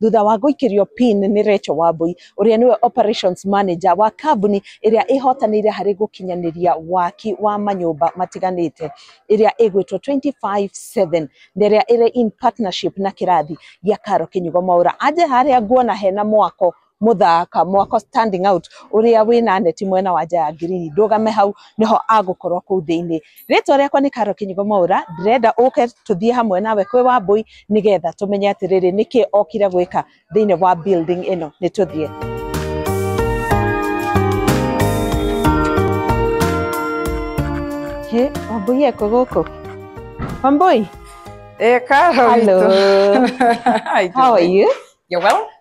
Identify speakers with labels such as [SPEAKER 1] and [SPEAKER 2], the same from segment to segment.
[SPEAKER 1] thutha wa gũikĩrio pin nĩ Rachel Wambui ũrĩa nĩwe operations manager wa kambuni ĩrĩa ĩhotanĩire harĩ gũkinyanĩria waki wa manyũmba matiganĩte ĩrĩa ĩgwĩtwo 25/7 na ĩrĩa ĩrĩ in partnership na kĩrathi gĩa Karo Kĩnyugo Mwaũra anje harĩa nguona hena mwako mũthaka mwako standing out ũrĩa wĩna neti mwena wa nja ya ngirini ndũgame hau nĩho agũkorwo kũu thĩinĩ Rĩtwa rĩakwa nĩ Karo Kĩnyigo Mwaũra, ndĩrenda ũke tũthiĩ hamwe nawe kwĩ Wambũi nĩgetha tũmenye atĩrĩrĩ nĩkĩ okire gwĩka thĩinĩ wa building ĩno. Nĩ tũthiĩ. Hĩ, Wambũi ekũ gũkũ? Wambũi, Eh,
[SPEAKER 2] Karo hello.
[SPEAKER 1] witũ. How are you? You're well?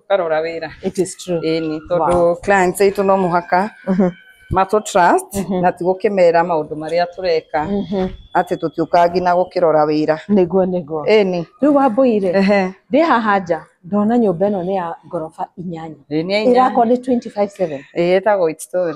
[SPEAKER 2] ũkarora wĩra it is true ĩni
[SPEAKER 1] tondũ wow. clients
[SPEAKER 2] aitũ no mũhaka matũ trust na ti gũkĩmera maũndũ marĩa tũreka atĩ tũtiũkaga nginya gũkĩrora wĩra nĩguo nĩguo
[SPEAKER 1] ĩni
[SPEAKER 2] rĩu wambũire
[SPEAKER 1] ehe ndĩ haha nja ndona nyũmba ĩno nĩ ya ngoroba inyanya Ĩĩ, nĩ ya inyanya. ĩrakwo nĩ 257 ĩĩ ĩtagwo It
[SPEAKER 2] Story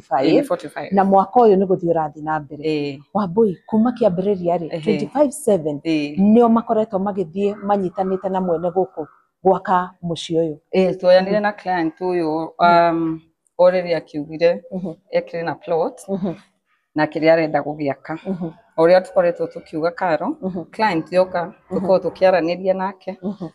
[SPEAKER 1] 45 45 na mwaka ũyũ nĩ gũthiĩ ũrathiĩ na mbere eh wambui kuma kĩambĩrĩria rĩ Ehe. 25 7 eh nĩo makoretwo magĩthiĩ manyitanĩte na mwene gũkũ gwaka mũciĩ ũyũ eh tuoyanire na client
[SPEAKER 2] ũyũ um o rĩrĩa akiugire Mhm, ekĩrĩ na plot mhm, na kĩrĩa arenda gũgĩaka mhm, o ũrĩa tũkoretwo tũkiuga karo mhm, client yoka tũkorwo tũkĩaranĩria nake mhm,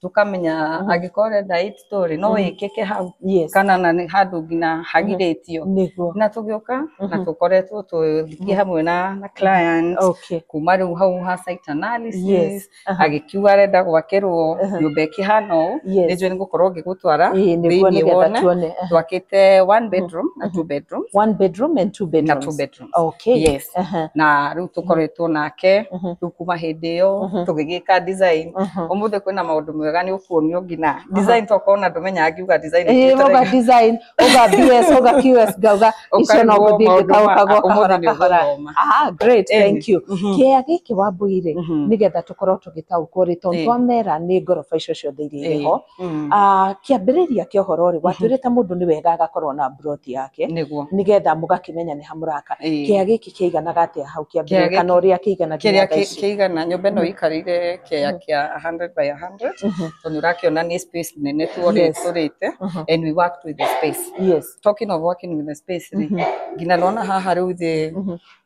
[SPEAKER 2] tũkamenya Mhm. angĩkorwo ũrenda eight story no Mhm. ĩkĩke hau yes kana na nĩ handũ nginya hagirĩtio nĩguo na tũgĩũka na Mhm. tũkoretwo tũthiĩ Mhm. hamwe na na client okay kuma rĩu hau ha site analysis yes aha, agĩkiuga arenda gwakĩrwo Mhm. nyũmba ĩkĩhana ũũ yes nĩnjũĩ nĩ gũkorwo ngĩgũtwara Ĩĩ, nĩguo thĩinĩ nĩgetha wone tuone aha. twakĩte one bedroom na Mhm. two bedrooms one bedroom and two na
[SPEAKER 1] bedrooms two bedrooms Okay.
[SPEAKER 2] Yes. Aha.
[SPEAKER 1] na rä u
[SPEAKER 2] tå koretwo nake Mhm. rä u kuma hä ndä ä yo Mhm. tå gä gä ka design Mhm. å må thä kwä na maå ndå mega nä å kuonio ngina design tokorwo na ndå menyaga ngiuga design Eh, ĩkuĩte uga raithi. design
[SPEAKER 1] uga bs uga qs ngauga icio no Ũkaigua gũthiĩ maũndũ ma- ngĩkagũkagwo ũmũthĩ kahora nĩ kahora ũgũthoma. Ah, great Eni. thank you Mhm. kĩea gĩkĩ wambũire Mhm. nĩgetha tũkorwo tũgĩtaũkwo rĩ tondũ Ĩĩ. twamera nĩ ngoroba icio ciothe iria irĩ Ĩĩ. ho Mm. Ah, kĩambĩrĩria kĩa ũhoro rĩ Mhm. watuĩrĩte mũndũ nĩ wega agakorwo na mburoti yake nĩguo nĩgetha mũgakĩmenya nĩ hamũraka Ĩĩ. kĩa gĩkĩ kĩiganaga atĩa hau Kĩa kĩambĩrĩria gĩkĩ- kana ũrĩa kĩigana kĩrĩa nginya thaa kĩ- ici. kĩigana nyũmba
[SPEAKER 2] ĩno Mhm. ĩikarĩire kĩa Mhm. kĩa 100 by 100 Mhm, tondũ ũrakĩona nĩ space nene tuorĩ Yes. tũrĩte mhm. and we worked with the space Yes. talking of working with the space rĩ Mhm, nginya nona haha rĩu thĩ mhm.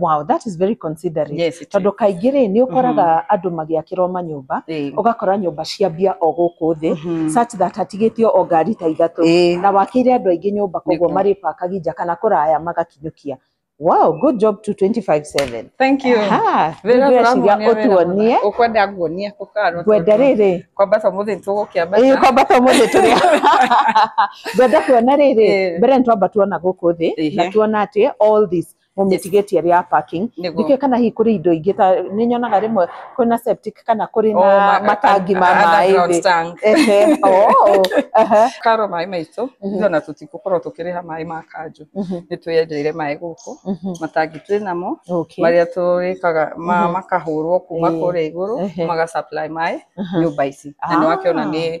[SPEAKER 2] Wow,
[SPEAKER 1] that is very considerate. Yes, it tondå kaingä
[SPEAKER 2] rä nä å
[SPEAKER 1] koraga andå magäakä ra manyåmba Eh, å gakora nyåmba ciambia o gå kå thä mhm. such that hatigä te o ngari ta ithatå Eh, na wakä ire andå aingä nyåmba koguo Nĩguo. marä pakagi nja kana kå raya magakinyå kia wow good job to 25/7 Thank you. Aha, Wĩra
[SPEAKER 2] nĩngwĩciria tũramuonia wĩra ũtuonie mũthaka. Ũkwenda nguonie
[SPEAKER 1] kũkaro.
[SPEAKER 2] ngwenda rä rä
[SPEAKER 1] Kwamba to mũthĩ
[SPEAKER 2] tũgũkĩamba. Ĩĩ, kwamba to mũthĩ tũrĩa
[SPEAKER 1] ngwenda kuona rĩrĩ Eh. mbere nĩ twamba tuona gũkũ thĩ na Ehe. tuona atĩ all this mũmĩtigĩtie area ya parking Nĩguo. ndikĩũĩ kana hihi kũrĩ indo ingĩ ta nĩ nyonaga rĩmwe kwĩna septic kana kũrĩ Oh, na ma- matangi ma maĩ underground thĩ tank. Ehe, oh,
[SPEAKER 2] aha, karo maĩ maitũ Mhm. ithuona tũtigũkorwo tũkĩrĩha maĩ ma kanjũ mhm, nĩ twĩyenjeire maĩ gũkũ mhm, matangi twĩ namo okay, marĩa tũrĩkaga ma- Mhm. makahũrwo kuma Eh. kũrĩa igũrũ Ehe. maga supply maĩ Aha. nyũmba ici na nĩ wakĩona Ah. nĩ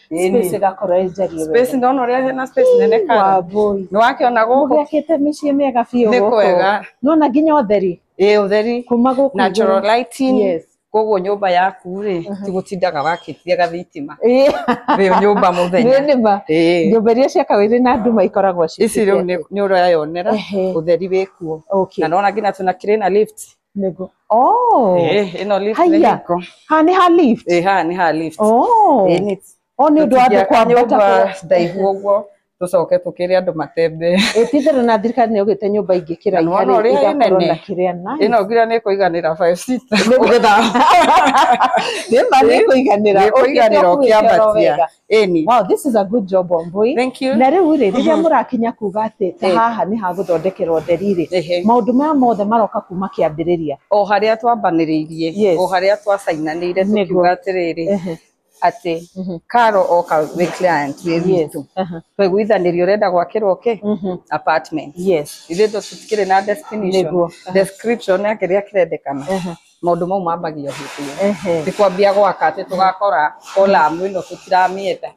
[SPEAKER 1] Ĩni. space ĩgakorwo ĩ njariĩ space ndona ũrĩa hena space
[SPEAKER 2] nene kana wambui nĩ wakĩona gũkũ gwakĩte mĩciĩ mĩega
[SPEAKER 1] biũ nĩ gũkũ. kwega nona
[SPEAKER 2] nginya ũtheri
[SPEAKER 1] ĩ ũtheri kuma
[SPEAKER 2] gũkũ natural
[SPEAKER 1] igũrũ. lighting Yes.
[SPEAKER 2] koguo nyũmba yaku rĩ ti gũtindaga wakĩtie gathitima Ĩ, wĩ nyũmba nĩ mũthenya nĩma Ĩ. nyũmba iria
[SPEAKER 1] ciakagwo irĩ na nduma ikoragwo ci- ici rĩu nĩ- nĩ
[SPEAKER 2] ũrayonera Ehe. ũtheri wĩkuo okay na nona nginya tũna kĩrĩ na lift Nĩguo.
[SPEAKER 1] Oh. Eh,
[SPEAKER 2] ĩno lift nĩ Haiya. hingo. Ha nĩ ha lift.
[SPEAKER 1] Eh, haha nĩ ha lift.
[SPEAKER 2] Oh. Eh, nĩ-
[SPEAKER 1] Oh nĩ ũndũ wa andũ tũtingĩaka kwambata nyũmba kũrĩa- ndaihu ũguo
[SPEAKER 2] tũcoke tũkĩre andũ matembee Ĩtithero na thirikari
[SPEAKER 1] nĩ ũgĩte nyũmba ingĩ kĩraiha Na nĩwona rĩ, ũrĩa igakorwo ĩnene. na kĩrĩa nice. ĩno nginya nĩ
[SPEAKER 2] kũiganĩra five seater.
[SPEAKER 1] Nĩ ma nĩ kũiganĩra. Nĩ kũiganĩra ũkĩambatia.
[SPEAKER 2] Ĩni. Wow,
[SPEAKER 1] this is a good job Wambui. Thank you. Na rĩu rĩ
[SPEAKER 2] rĩrĩa Mhm. mũrakinya
[SPEAKER 1] kuga atĩ ta Eh. haha nĩ hagũthondekerwo ũtheri rĩ Ehe. maũndũ maya mothe maroka kuma kĩambĩrĩria o harĩa
[SPEAKER 2] twambanĩrĩirie Yes. o harĩa twacainanĩire Nĩguo. tukiuga atĩrĩrĩ Ehe. atĩ Mhm. karo oka wĩ client wĩ Yes. witũ Aha. twaiguithanĩrio ũrenda gwakĩrwo kĩ Mhm. apartment yes ithuĩ ndo tũtikĩrĩ na destination Nĩguo. Aha. description ya kĩrĩa kĩrendekana Aha. maundu mau mambagio hĩndĩ kwambia gwaka atĩ tũgakora column ĩno tũtiramĩenda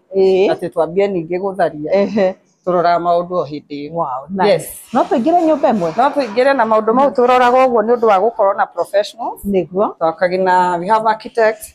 [SPEAKER 2] atĩ twambie ningĩ gũtharia tũroraga maũndũ o hĩndĩ ĩyo. Wow, nice. Yes. No tũingĩre nyũmba
[SPEAKER 1] ĩmwe? No tũingĩre na maũndũ
[SPEAKER 2] mau tũroraga ũguo nĩ ũndũ wa gũkorwo na professionals. Nĩguo. Twakagi
[SPEAKER 1] na we have
[SPEAKER 2] architects,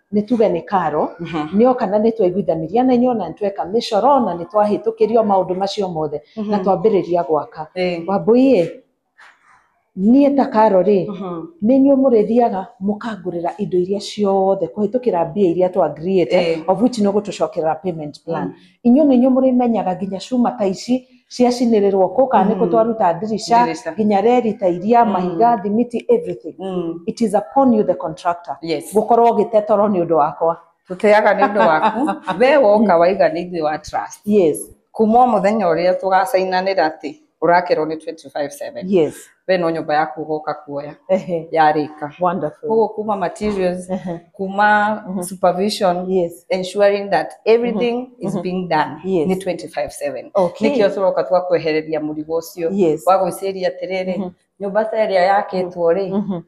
[SPEAKER 1] nĩ tuge nĩ karo Mhm. nĩ oka na nĩ twaiguithanĩria na inyuĩ na nĩ tweka mĩcoro na nĩ twahĩtũkĩrio maũndũ macio mothe na Mhm. twambĩrĩria gwaka Eh. wambũiĩ niĩ ta karo rĩ Mhm. nĩ inyuĩ mũrĩthiaga mũkangũrĩra indo iria ciothe kũhĩtũkĩra mbia iria twa agreeĩte Eh. of which nĩ ũgũtũcokerera payment plan inyuĩ nĩ inyuĩ mũrĩmenyaga nginya cuma ta ici ciacinĩrĩrwo kũ kana nĩkũ Mm. twaruta ndirica Ndirica. nginya reri ta iria Mm. mahiga thimiti everything Mm. it is upon you the contractor Yes. gũkorwo ũgĩte toro nĩ ũndũ wakwa tũteaga nĩ ũndũ
[SPEAKER 2] waku we woka waiga nĩ ithuĩ wa trust yes kuma o mũthenya ũrĩa tũgacainanĩra atĩ ũrakerwo nĩ 25/7 yes we no nyũmba yaku ũgoka kuoya Ehe. yarĩka Wonderful. koguo
[SPEAKER 1] kuma materials
[SPEAKER 2] Ehe. kuma Mhm. supervision Yes. ensuring that everything is Mhm. being done Yes. ni 25/7 Okay. nikio turoka twakwehereria mũrigo ũcio Yes. wa gwĩciria atĩrĩrĩ Mhm. nyũmba ta ĩrĩa yakĩtwo rĩ Mhm.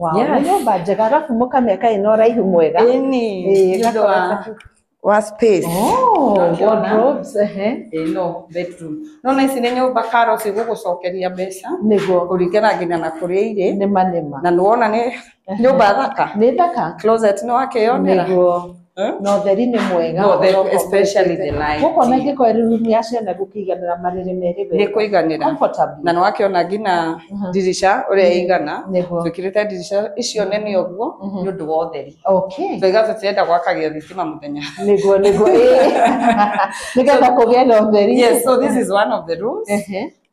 [SPEAKER 1] Wow, Yes. nĩ nyũmba njega arabu mũkamĩa kaĩ na ũraihu mwega Ĩni, Ĩĩ, nĩ ũndũ gakorwo wa- gaku-
[SPEAKER 2] wa space Oh, Ũrakiona? wardrobes,
[SPEAKER 1] ehe. Ĩĩ, no
[SPEAKER 2] bedroom no na ici nĩ nyũmba karo cigũgũcokeria mbeca nĩguo kũringana
[SPEAKER 1] nginya na
[SPEAKER 2] kũrĩa irĩ nĩma nĩma na nĩwona
[SPEAKER 1] nĩ
[SPEAKER 2] nyũmba thaka nĩ thaka closet
[SPEAKER 1] nĩ wakĩyonera
[SPEAKER 2] nĩguo Eh? na
[SPEAKER 1] ũtheri nĩ mwega No, the- ũroko especially the
[SPEAKER 2] mũtĩte. light. gũkũ ona ingĩkorwo ĩrĩ rumu
[SPEAKER 1] ya ciana gũkĩiganĩra marĩrĩ merĩ nĩ wega kũiganĩra
[SPEAKER 2] Comfortably. na nĩ wakĩona
[SPEAKER 1] ngina
[SPEAKER 2] Mhm. dirisha ũrĩa ĩigana Nĩguo. twĩkĩrĩte dirisha icio nene ũguo Mhm. nĩ ũndũ wa ũtheri okay twaiga tũtirenda gwakagia thitima mũthenya nĩguo nĩguo ĩĩ.
[SPEAKER 1] nĩgetha kũgĩa na ũtheri yes so this is one of the
[SPEAKER 2] rules Ehe.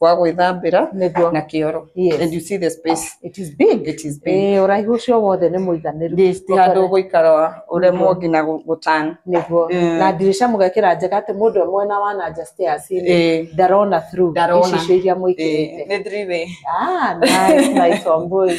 [SPEAKER 2] gwa gwĩthambĩra nĩguo na kĩoro and yes you see the space it is big it is
[SPEAKER 1] big eh ũraihu ũcio wothe nĩ mũiganĩru This ti handå gå ikara
[SPEAKER 2] wa å remwo nginya gå tan nĩguo Eh. na
[SPEAKER 1] ndirica mũgekĩra njega atĩ mũndũ ũmwe na wanaja stairs Eh. ndarona through Ndarona. ici icio iria mũikĩrĩte nä thriwä
[SPEAKER 2] Ah, nice,
[SPEAKER 1] nice, Wambui.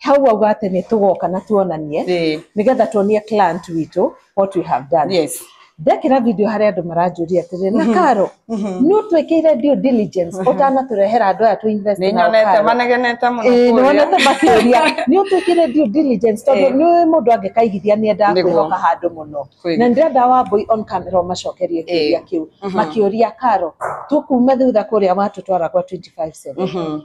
[SPEAKER 1] hau wauga atĩ nĩ tũgoka na tuonanie Ĩĩ. nĩgetha tuonie client witũ what we have done Yes. ndekĩra video harĩa andũ maranjũria atĩrĩ na karo nĩ ũtwĩkĩire due diligence ũtanatũrehera andũ aya tũ invest Nĩ nao nyonete Karo?" manegenete
[SPEAKER 2] mũno Ĩĩ, kũrĩa. nĩwonete makĩũria
[SPEAKER 1] nĩ ũtwĩkĩire due diligence tondũ Ĩĩ. nĩ mũndũ angĩkaigithia nĩ endaga Nĩguo. kwĩhoka handũ mũno Kweli. na ndĩrenda wambui on camera ũmacokerie kĩũria Ĩĩ. kĩu makĩũria karo tũkume thutha kũrĩa watũtwara gwa 25 cent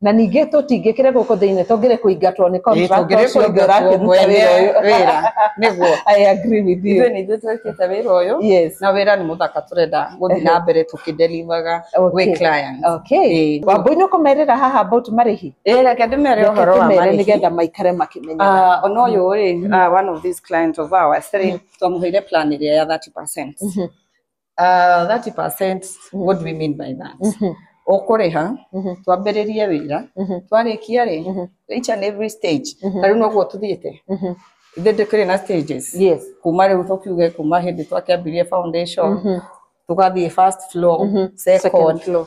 [SPEAKER 2] na
[SPEAKER 1] ningä tå tingä kä re gå kå thä inä tångä re kå ingatwo nä tũngĩrĩ kũingatwo mwene wĩra nĩguo
[SPEAKER 2] ithuĩ nĩ ithuĩ
[SPEAKER 1] twĩkĩte wĩra
[SPEAKER 2] ũyũ na wĩra nĩ mũthaka tũrenda gũthiĩ na mbere tũkĩndelivaga gwĩ clients wambũi nĩ
[SPEAKER 1] ũkũmerĩra haha about marĩhi reke ndĩmere
[SPEAKER 2] ũhoro wa marĩhi nĩgetha maikare makĩmenyaga
[SPEAKER 1] ona ũyũ rĩ
[SPEAKER 2] one of these clients of ours rĩ twamũheire plan ĩrĩa ya 30 percent Ah, 30% what do we mean by that Mhm, ũkũrĩha mhm, twambĩrĩrie wĩra mhm, twarĩkia rĩ mhm, each and every stage Mhm. tarĩu noguo tũthiĩte mhm. ithe ndĩkĩrĩ na stages Yes. kuma rĩu tũkiuge kuma hĩndĩ twakĩambirie foundation Mhm, tũgathiĩ first floor mhm. second Second floor.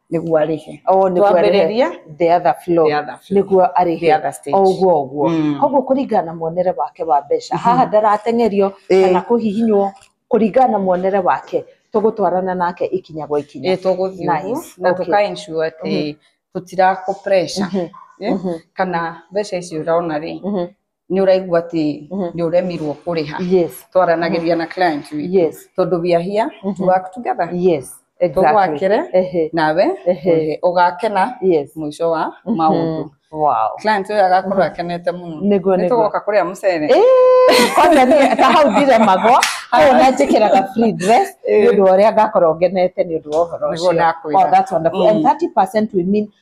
[SPEAKER 2] nĩguo arĩhe Oh, nĩguo arĩhe. twambĩrĩria the other floor the
[SPEAKER 1] other floor. nĩguo the arĩhe other stage. o ũguo ũguo Mm. koguo kũringana na muonere wake wa mbeca haha ndarateng'erio Ĩĩ. kana kũhihinywo kũringana na muonere wake tũgũtwarana nake ikinya gwa ikinya Ĩĩ, tũgũthiĩ Nice. ũguo na
[SPEAKER 2] Okay. tũka ensure atĩ tũtirakũ pressure Mhm. Eh? Mhm. kana mbeca icio ũrona rĩ Mhm. nä å raigua atä Mhm. nä å remirwo kå rä ha yes twaranagä ria na client witũ. yes tondå we are here Mhm. to work together yes tå exactly gwakere ehe nawe Ehe. å gakena yes må ico wa Mhm. maå ndå wow client å yå agakorwo akenete må no Nĩguo, nä nĩguo. tå goka kå rä a må cere Eh, kwanza
[SPEAKER 1] niĩ ta hau ndiremagwo koguo na njĩkĩraga free dress nĩ ũndũ wa ũrĩa ngakorwo ngenete nĩ ũndũ wa ũhoro Nĩguo ũcio ndakwĩra. Oh, that's wonderful. And Mm. 30% we mean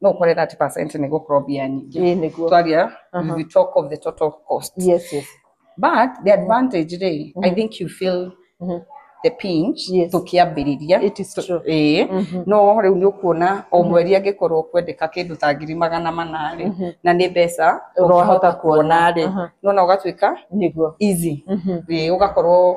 [SPEAKER 2] no ũkore 30% nĩ gũkorwo mbia nyingĩ ĩĩ nĩguo twaria Aha. we talk of the total cost yes yes but the advantage rĩ i think you feel Mhm. the pinch Yes. tũkĩambĩrĩria it is true ĩĩ Mhm. no rĩu nĩ ũkuona o mweri angĩkorwo kwendeka kĩndũ ta ngiri magana manarĩ Mhm. na nĩ mbeca Ũrahota ũrahota kuona. kuona rĩ Aha. nona ũgatuĩka nĩguo easy Mhm. ĩĩ ũgakorwo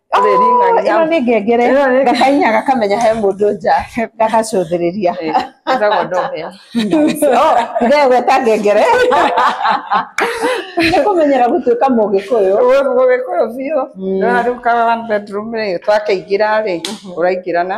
[SPEAKER 1] ĩno nĩ ngengere gakahihinya gakamenya he mũndũ nja gagacũthĩrĩria gegweta ngengere nĩ kũmenyera gũtuĩka mũgĩkũyũ mũgĩkũyũ
[SPEAKER 2] biũ rĩu ka one bedroom rĩ twakĩingĩra rĩ ũraingĩra na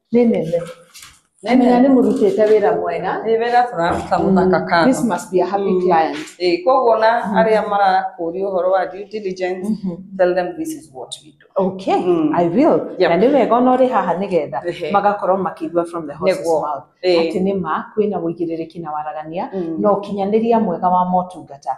[SPEAKER 1] Nĩ nene. Nene. Menya nĩ mũrutĩte wĩra mwega. Nĩ wĩra tũraruta
[SPEAKER 2] mũthaka kano. This must be a happy
[SPEAKER 1] client. Eh, koguo na
[SPEAKER 2] arĩa marakũria ũhoro wa due diligence, tell them this is what we do. Okay, Mm. I will.
[SPEAKER 1] Yep. Na nĩ wega ona ũrĩ haha nĩ getha Ehe. magakorwo makĩigua from the horse's Nĩguo. mouth Eh. atĩ nĩ ma kwĩna ũigĩrĩrĩki na waragania Mm. na ũkinyanĩria mwega wa motungata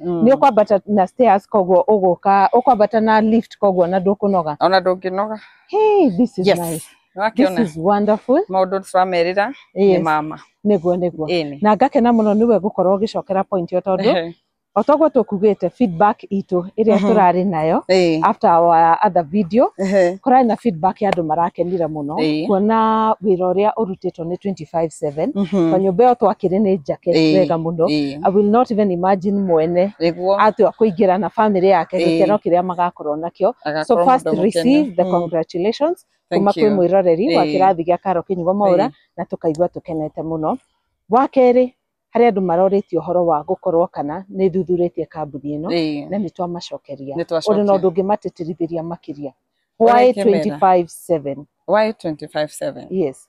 [SPEAKER 1] Mm. nĩ ũkwambata na stairs koguo ũgũka ũkwambata na lift koguo na ndũkũnoga ona ndũngĩnoga
[SPEAKER 2] hey, this is
[SPEAKER 1] Yes. nice. this nĩwakiona is wonderful maũndũ tũramerĩra
[SPEAKER 2] nĩ yes. mama nĩguo nĩguo ĩni
[SPEAKER 1] na ngakena mũno nĩwe gũkorwo ũgĩcokera point ĩyo tondũ o toguo tũkugĩte feedback itũ ĩrĩa Mhm. tũrarĩ nayo Ĩĩ. after our other video Ehe. kũrarĩ na feedback ya andũ marakenire mũno Ĩĩ. kuona wĩra ũrĩa ũrutĩtwo nĩ 24 24/7 Mhm. na nyũmba ĩyo twakĩrĩ nĩ njake Ĩĩ, wega mũno ĩĩ. I will not even imagine mwene Nĩguo atua kũingĩra na family yake Ĩĩ. gĩkeno kĩrĩa magakorwo nakĩo so agakorwo first mũndũ mũkenu. receive the Mm. congratulations Thank kuma kwĩ you. mwĩroreri wa Ĩĩ. kĩrathi gĩa karo kĩnyugo maũra Ĩĩ. na tũkaigua tũkenete mũno wa kerĩ harĩ andũ marorĩtie ũhoro wa gũkorwo kana nĩ thuthurĩtie kambuni ĩno Ĩĩ. na nĩ twamacokeria Nĩ ũrĩ na twacokia. ũndũ ũngĩ matĩtĩrithĩria makĩria Ũrĩa why ingĩmera. 25/7 Why 25/7?
[SPEAKER 2] yes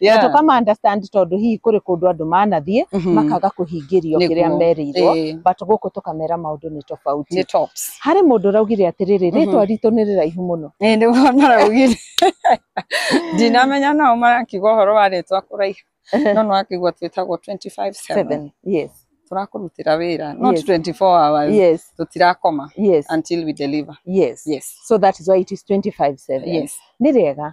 [SPEAKER 1] Yeah. na tũkama understand tondũ hihi kũrĩ kũndũ andũ manathiĩ Mhm. makaga kũhingĩrio Nĩguo. kĩrĩa merĩirwo Eh, but gũkũ tũkamera maũndũ nĩ tofauti nĩ tops harĩ
[SPEAKER 2] mũndũ ũraugire
[SPEAKER 1] atĩrĩrĩ Mhm. rĩtwa ritũ nĩ rĩraihu mũno Eh, nĩguo maraugire
[SPEAKER 2] ndinamenya nao marakiuga ũhoro wa rĩtwa kũraiha no nĩwakĩigua twĩtagwo 25/7 Seven. yes tũrakũrutĩra wĩra not Yes. 24 hours yes tũtirakoma yes
[SPEAKER 1] until
[SPEAKER 2] we
[SPEAKER 1] deliver yes
[SPEAKER 2] yes
[SPEAKER 1] so that is why it is 25 7 yes
[SPEAKER 2] nĩ
[SPEAKER 1] rĩega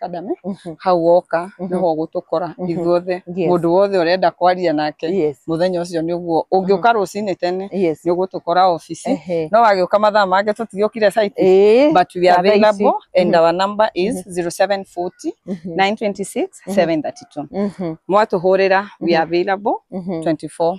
[SPEAKER 2] kadame Mhm. hau woka Mhm. nĩho ũgũtũkora Mhm. ithuothe Yes. mũndũ wothe ũrenda kwaria nake Yes. mũthenya ũcio nĩ ũguo ũngĩũka rũcinĩ tene Yes. nĩ ũgũtũkora obici Ehe. no wagĩũka mathaa mangĩ tũtigĩũkire site Eh. but we are Thaa ici. available and Mhm. our number is 0740 Mhm. 926 732 Mhm. mwatũhũrĩra we are available Mhm. 24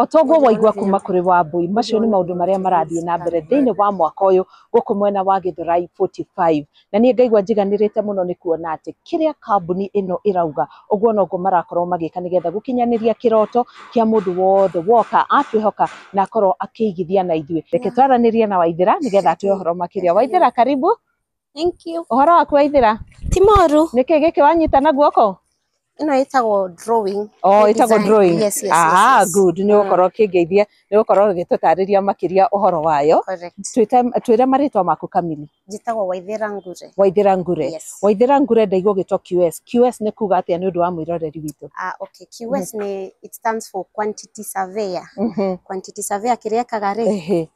[SPEAKER 2] O ta
[SPEAKER 1] ũguo waigua kuma kũrĩ Wambũi, macio nĩ maũndũ marĩa marathiĩ na mbere thĩinĩ wa mwaka ũyũ gũkũ mwena wa Gĩthũrai 45. Na niĩ ngaigua njiganĩrĩte mũno nĩ kuona atĩ kĩrĩa kambuni ĩno ĩrauga, ũguo noguo marakorwo magĩka nĩgetha gũkinyanĩria kĩroto kĩa mũndũ wothe woka atwĩhoka na akorwo akĩigithia na ithuĩ. Reke twaranĩrie na Waithĩra nĩgetha atũhe ũhoro makĩria. Waithĩra karibu. Thank you.
[SPEAKER 3] Ũhoro waku waithĩra?
[SPEAKER 1] Ti moru. Nĩkĩ
[SPEAKER 3] gĩkĩ wanyita
[SPEAKER 1] na guoko? Ĩno ĩtagwo
[SPEAKER 3] drawing. Oh, ĩtagwo drawing.
[SPEAKER 1] Yes, yes, ah, yes.
[SPEAKER 3] good. Nĩ
[SPEAKER 1] gũkorwo mm. kĩngeithia, nĩ gũkorwo gĩtũtarĩria makĩria ũhoro wayo. Correct. Twĩre marĩtwa maku kamili. Njĩtagwo Waithĩra
[SPEAKER 3] Ngure. Waithĩra Ngure. Yes. Waithĩra
[SPEAKER 1] Ngure ndaigua gĩtwa QS. QS nĩ kuga atĩa nĩ ũndũ wa mwĩroreri witũ? Ah, okay. QS
[SPEAKER 3] mm-hmm. nĩ it stands for quantity surveyor. Mm -hmm. Quantity surveyor kĩrĩa ekaga rĩ,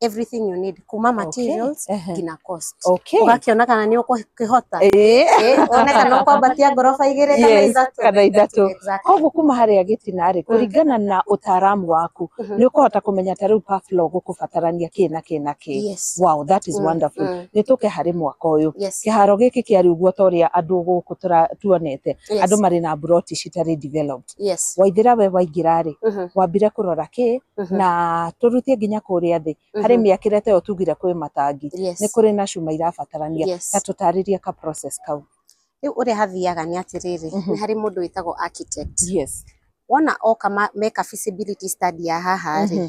[SPEAKER 3] everything you need kuma Okay. materials Ehe. nginya cost Okay. ũgakĩona kana nĩ ũkũhota Eh. Eh, one kana ũkwambatia ngoroba igĩrĩ kana Yes, ithatũ kana ithatũ. Exactly. koguo kuma harĩa
[SPEAKER 1] gĩtinarĩ kũringana na ũtaaramu waku Mhm. nĩ ũkũhota kũmenya ta rĩu paflo gũkũbatarania kĩ na kĩ na kĩ Yes. wow that is Mm, wonderful mm. nĩ tũke harĩ mwaka ũyũ Yes. kĩharo gĩkĩ kĩa rĩu guo ta ũrĩa andũ gũkũ tũra- tuonete Yes. andũ marĩ na mburoti citarĩ developed yes waithira we waingĩra rĩ Mhm, wambire kũrora kĩ mhm, na tũrutie nginya kũrĩa thĩ harĩ mhm, mĩakĩre ta ĩyo tugire kwĩ matangi nĩ yes kũrĩ na cuma irabatarania ta yes tũtarĩrie ka process kau rĩu ũrĩa hathiaga
[SPEAKER 3] nĩ atĩrĩrĩ Mhm. nĩ harĩ mũndũ wĩtagwo architect yes wona oka ma- meka feasibility study ya haha rĩ Mhm.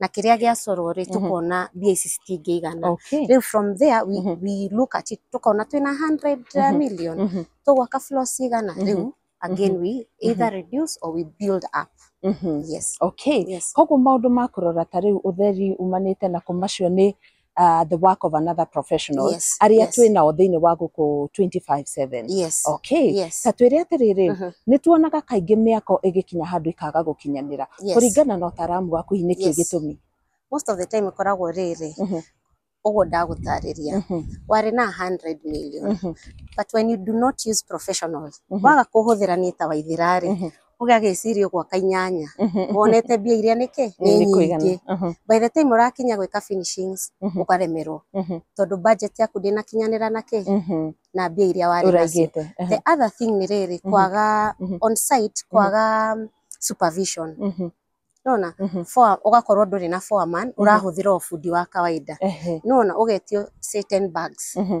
[SPEAKER 3] na kĩrĩa gĩacorwo rĩ Mhm. tũkona mbia ici citingĩigana okay rĩu from there we, Mhm. we look at it tũkona twĩna 100 Mhm. million Mhm, tũgwaka floor cigana Mhm. rĩu again we either reduce or we build up mhm. yes
[SPEAKER 1] okay yes koguo maũndũ ma kũrora ta rĩu ũtheri umanĩte na commercial nĩ uh, the work of another professional Yes, arĩa yes. twĩ nao
[SPEAKER 3] thĩinĩ
[SPEAKER 1] wa
[SPEAKER 3] gũkũ
[SPEAKER 1] 25/7 yes okay
[SPEAKER 3] yes ta twĩre
[SPEAKER 1] atĩrĩrĩ Mhm. nĩ tuonaga kaingĩ mĩako ĩgĩkinya handũ ikaga gũkinyanĩra yes kũringana na ũtaaramu waku hihi nĩkĩ Yes. gĩtũmi most of the time
[SPEAKER 3] ĩkoragwo rĩrĩ Mhm. ũguo ndagũtarĩria Mhm, warĩ na 100 million mhm, but when you do not use professionals Mhm. waga kũhũthĩra nĩ ta waithira rĩ mhm. Ũgĩa gĩciria ũgwaka inyanya, Mhm, wonete mbia iria nĩkĩ? Nĩ Nĩ kũigana. nyingĩ. Mhm, By the time ũrakinya gwĩka finishings, mhm, ũkaremerwo. mhm, Tondũ budget yaku ndĩnakinyanĩra na kĩ? mhm. Na mbia iria warĩ nacio. Ũraigĩte. Aha, The other thing nĩ rĩrĩ, Mhm. kwaga Mhm. on site, kwaga um, supervision. mhm, Nona? mhm. Foa, ũgakorwo ndũrĩ na foreman, ũrahũthĩra o bundi wa kawaida. Ehe, Nona, ũgetio say 10 bags. mhm,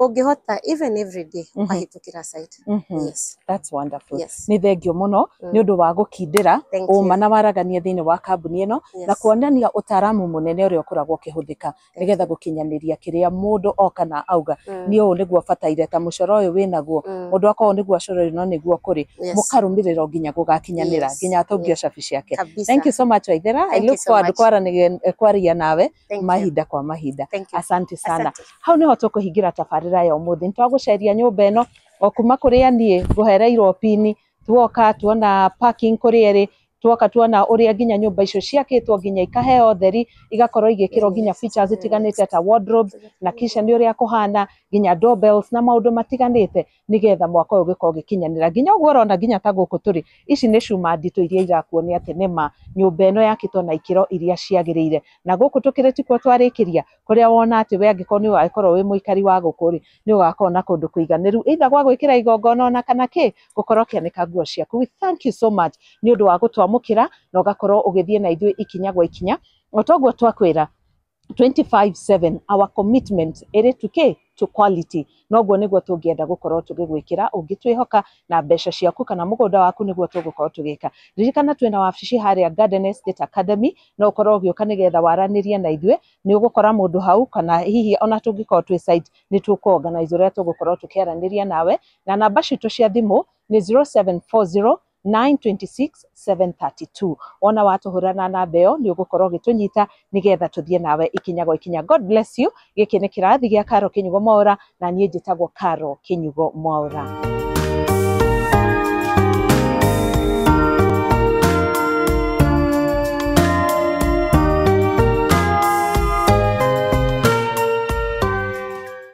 [SPEAKER 3] ũngĩhota even every day Mhm. ũkahĩtũkĩra site Mhm. yes That's wonderful. yes
[SPEAKER 1] Nĩ thengio mũno Mm. nĩ ũndũ wa gũkindĩra Thank you. ũma na waragania thĩinĩ wa kambuni ĩno yes na kuonania ũtaaramu mũnene ũrĩa ũkoragwo ũkĩhũthĩka Thank nĩgetha you. gũkinyanĩria kĩrĩa mũndũ oka na auga Mm, nĩ ũũ nĩguo bataire ta mũcoro ũyũ wĩnaguo mm, mũndũ akorwo nĩguo acoro ũyũ no nĩguo kũrĩ yes mũkarũmĩrĩra nginya gũgakinyanĩra Yes, nginya atongia yes. cabi ciake kabisa Thank you so much Waithera. I Thank you look so forward much. kwaranĩria- kwaria nawe Thank you. mahinda kwa mahinda Thank you. asante sana Asante. hau nĩho tũkũhingĩra tabarĩra ya ũmũthĩ nĩ twagũceria nyũmba ĩno o kuma kũrĩa niĩ ngũhereirwo pini tuoka tuona parking kũrĩa ĩrĩ tuoka tuona ũrĩa nginya nyũmba icio ciakĩtwo nginya ikaheo theri igakorwo igĩkĩrwo nginya features itiganĩte ta wardrobe na kisha nĩ ũrĩa kũhana nginya doorbells na maũndũ matiganĩte nĩgetha mwaka ũyũ ũgĩkorwo ũgĩkinyanĩra nginya ũguo ũrona nginya ta gũkũ tũrĩ ici nĩ cuma nditũ iria irakuonia atĩ nĩma nyũmba ĩno yakĩtwo na ikĩro iria ciagĩrĩire na gũkũ tũkĩrĩ tikuo twarĩkĩria kũrĩa wona atĩ we angĩkorwo nĩ ũgagĩkorwo wĩ mũikari wa gũkũ rĩ nĩ ũgakorwo na kũndũ kũiganĩru either gwa gwĩkĩra igongona ona kana kĩ gũkorwo ũkĩanĩka nguo ciaku we thank you so much nĩ ũndũ wa gũtwamũkĩra na ũgakorwo ũgĩthiĩ na ithuĩ ikinya gwa ikinya o toguo twakwĩra 25/7 our commitment ĩrĩ to kĩ to quality noguo nĩguo tũngĩenda gũkorwo tũgĩgwĩkĩra ũngĩtwĩhoka na mbeca ciaku kana mũgũnda waku nĩguo tũgũkorwo tũgĩka ririkana twĩna wabici harĩa Garden Estate Academy no ũkorwo ũgĩũka nĩgetha waranĩrie na ithuĩ nĩ ũgũkora mũndũ hau kana hihi ona tũngĩkorwo twĩ site nĩ tũkũ organize ũrĩa tũgũkorwo tũkĩaranĩria nawe na namba citũ cia thimũ nĩ 0740 926732 wona watũhũrana namba ĩyo nĩ ũgũkorwo ũgĩtũnyita nĩgetha tũthiĩ nawe ikinya gwa ikinya god bless you gĩkĩ nĩ kĩrathi gĩa karo kĩnyugo mwaũra na niĩ njĩtagwo karo kĩnyugo mwaũra